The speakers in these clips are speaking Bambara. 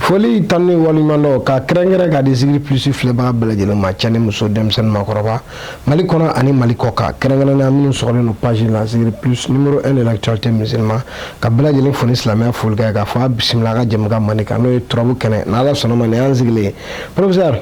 foli tanu ni waliɲumandɔn ka kɛrɛnkɛrɛn ka di zikiri plus filɛbaga bɛɛ lajɛlen ma cɛ ni muso denmisɛn ni makɔrɔba mali kɔnɔ ani mali kɔkan kɛrɛnkɛrɛnnenya minnu sɔgɔlen don page la zikiri plus numero 1 de l'actualité musulman ka bɛɛ lajɛlen fo ni silamɛya folikan ye k'a fɔ a bisimila an ka jɛmukan mandi kan n'o ye turabu kɛnɛ n'ala sɔnna a ma nin y'an sigilen ye professeur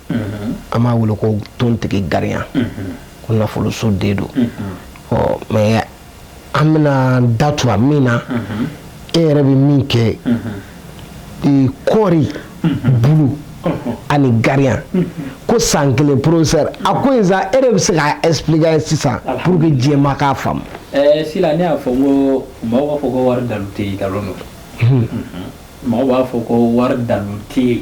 an b'a wele ko tontigi gariya ko nafoloso den don ɔ mɛ an bɛna da tu a min na e yɛrɛ bɛ min kɛ kɔɔri bulu ani gariya ko san kelen professeur a ko in sa e de bɛ se k'a expliquer sisan pour que jama k'a faamu. ɛɛ sila ne y'a fɔ n ko mɔgɔw b'a fɔ ko wari dalu tɛ yen nkalon don mɔgɔw b'a fɔ ko wari dalu tɛ yen.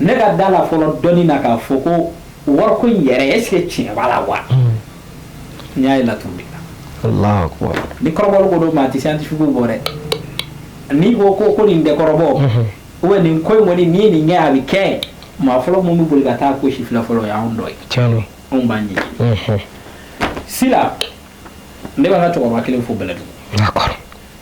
ne ka da la fɔlɔ dɔɔnin na k'a fɔ ko wariko in yɛrɛ est ce que tiɲɛ b'a la wa n y'a ye laturu de la ni kɔrɔbɔli ko don maa tɛ scientifique bɔ dɛ n'i ko ko ko nin tɛ kɔrɔbɔ ou nin ko in kɔni n'i ye nin kɛ a bɛ kɛ maa fɔlɔ minnu bɛ boli ka taa ko sifilɛ fɔlɔ o y'anw dɔ ye anw b'an ɲɛɲini sila ne b'an ka cɛkɔrɔba kelen fo bɛlɛdugu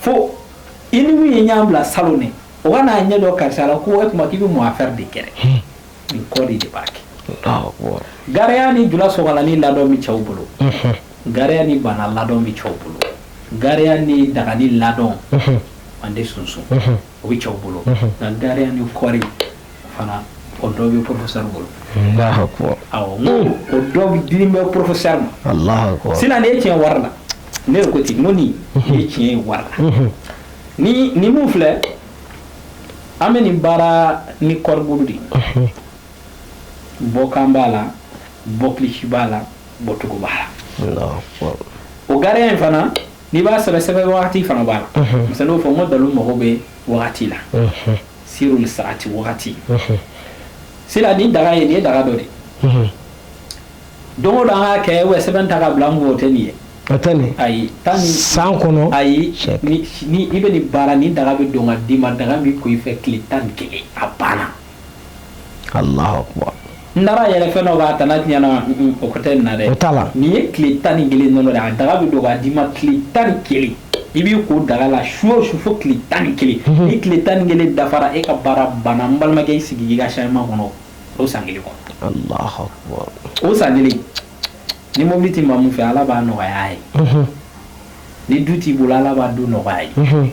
fo i ni min ye ɲan bila salon ne o ka n'a ɲɛ dɔ karisa la ko e kuma k'i bɛ mun affaire de kɛ dɛ hmm. nin kɔ de de b'a kɛ gariya ni jula sokalani ladɔn bɛ cɛw bolo hmm. gariya ni bana ladɔn bɛ cɛw bolo gariya ni dagani ladɔn an tɛ sunsun o bɛ cɛw bolo nka gariya ni kɔɔri fana o dɔ bɛ porofosɛri bolo o dɔ bɛ dilen bɛ porofosɛri ma sisan ne ye tiɲɛ ye wari la ne ko ten ko nin ne ye tiɲɛ ye wari la ni min filɛ an bɛ nin baara ni kɔɔri bulu de bɔkan b'a la bɔkilisi b'a la bɔcogo b'a la o gariya in fana n'i b'a sɛbɛ sɛbɛ wagati fana b'a la masa n'o fɔ n ko dalu mago bɛ wagati la sirul saati wagati sila ni daga ye nin ye daga dɔ de don da an ka kɛ wa sɛbɛn ta ka bila an o tɛ nin ye ayi tan ni san kɔnɔ ayi i bɛ nin baara ni daga bɛ don ka d'i ma daga bɛ ko i fɛ tile tan ni kelen a banna n taara yɛrɛ fɛn dɔ b'a tana tiɲɛna o ko tɛ na dɛ o t'a la nin ye tile tan ni kelen dɔrɔn de a daga bɛ don k'a d'i ma tile tan ni kelen i b'i ko daga la su o su fo tile tan ni kelen ni tile tan ni kelen dafara e ka baara banna n balimakɛ i sigi i ka changement kɔnɔ o san kelen kɔnɔ o san kelen ni mobili tɛ maa min fɛ Ala b'a nɔgɔya a ye ni du t'i bolo Ala b'a du nɔgɔya a ye.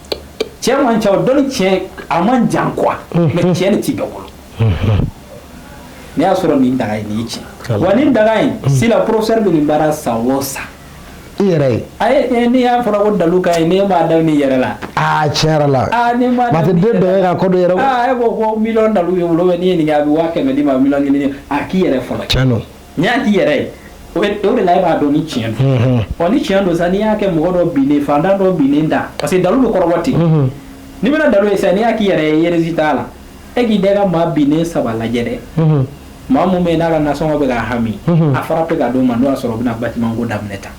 tiɲɛ man ca o dɔnni tiɲɛ a man jan quoi mais tiɲɛ de tɛ bɛɛ bolo n'i y'a sɔrɔ nin daga ye nin tiɲɛ wa nin daga in sila professeur bɛ nin baara san o san i yɛrɛ ye ayi n'i y'a fɔ ko dalu ka ɲi ne ma da nin yɛrɛ la aa tiɲɛ yɛrɛ la aa ne ma da nin yɛrɛ la den bɛɛ ka ko dɔ yɛrɛ aa e ko ko miliyɔn dalu bɛ n bolo n'i ye nin kɛ a bɛ waa kɛmɛ d'i ma miliyɔn kelen a k'i yɛrɛ fɔlɔ tiɲɛ don N'i y'a k'i yɛrɛ ye o o de la e b'a dɔn ni tiɲɛ don ɔ ni tiɲɛ don sa n'i y'a kɛ mɔgɔ dɔ binnen fantan dɔ binnen da parce que dalu bɛ kɔrɔbɔ ten n'i bɛna dalu ye san'i y'a k'i yɛrɛ ye yɛrɛrez t'a la e k'i da ka maa binnen saba lajɛ dɛ maa min bɛ n'a ka nasɔngɔ bɛ ka hami a fara bɛ ka don ma n'o y'a sɔrɔ u bɛna bâtiment ko daminɛ ta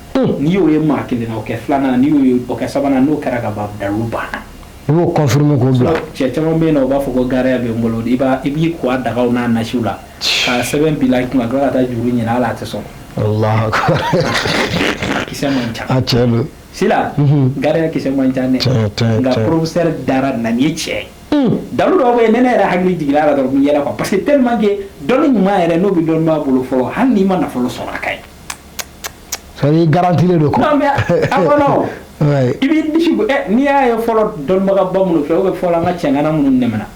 n'i y'o ye maa kelen na o kɛ filanan n'i y'o o kɛ sabanan n'o kɛra ka ban dalu banna i b'o confirmer k'o bila cɛ caman bɛ yen na o b'a fɔ ko gariya bɛ n bolo i b' i b'i ko dagaw n'a nasiw la k'a sɛbɛn bila i kunna a tila ka taa juru ɲini hali a tɛ sɔn Allahu akbar. kisɛ man ca A tiɲɛ don. sila Mhm. gariya kisɛ man ca dɛ Tiɲɛ, tiɲɛ, nka tiɲɛ. professeur dara na nin ye tiɲɛ ye Hmm. dalu dɔw bɛ yen ne ne yɛrɛ hakili jiginna a la dɔrɔn n yɛlɛ quoi parce que tellement que dɔnni ɲuman yɛrɛ n'o bɛ dɔnniba bolo fɔlɔ hali n'i ma nafolo sɔrɔ a ka ɲi C'est-à-dire, a garantilen don quoi. non mais a kɔnɔ o. Ouais. i b'i disi gosi ɛ n'i y'a ye fɔlɔ dɔnnibagaba minnu fɛ ou bien fɔlɔ an ka cɛŋana minnu tɛmɛna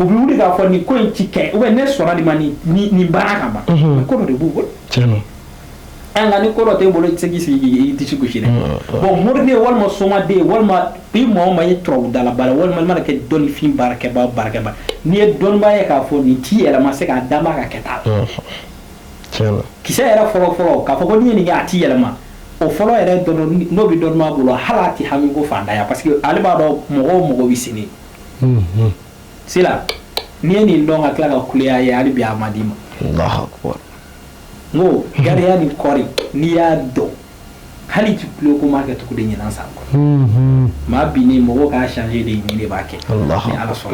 u bɛ wuli k'a fɔ nin ko in ci kɛ u bɛ ne sɔnna di ma ni nin baara ka ban mais ko dɔ de b'u bolo nka ni ko dɔ t'i bolo i tɛ se k'i disi gosi dɛ bon mori de walima soma de walima i mɔgɔ ma ye turabudala bara walima mana kɛ dɔnnifin baarakɛba barakɛba n'i ye dɔnniba ye k'a fɔ nin ci yɛrɛ ma se k'a da ka kɛ taa kisɛ yɛrɛ fɔlɔ fɔlɔ k'a fɔ ko ɲini a tɛ yɛlɛma o fɔlɔ yɛrɛ n'o bɛ dɔnniba bolo hali tɛ hami ko fantanya parce que ale b'a dɔn mɔgɔw mɔgɔ bɛ sen sila n'i ye nin dɔn ka tila ka gɛlɛya ye hali bi a ma d'i ma n ko gariya nin kɔni n'i y'a dɔn hali ti kulo ko m'a kɛ tugu dɛ ɲinan san kɔnɔ maa binnen mɔgɔw k'a changer dɛ nin de b'a kɛ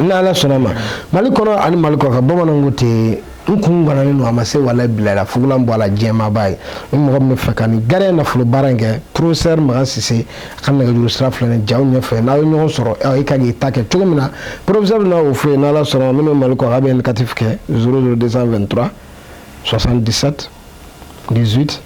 ni Ala sɔnna a ma Mali kɔnɔ ani Mali kɔkan bamananw ko ten n kun ganalen don a ma se walayi bilayi fugulan bɔ a la jɛmaaba ye ni mɔgɔ min bɛ fɛ ka nin gariya nafolo baara in kɛ professeur makan sise a ka nɛgɛjuru sira filɛ nin jaw ɲɛfɛ n'aw ye ɲɔgɔn sɔrɔ ɔ i ka kan k'i ta kɛ cogo min na professeur bɛna o fɔ i ye n'ala sɔnna min bɛ mali kɔkan bɛ indicatif kɛ 00223 77 18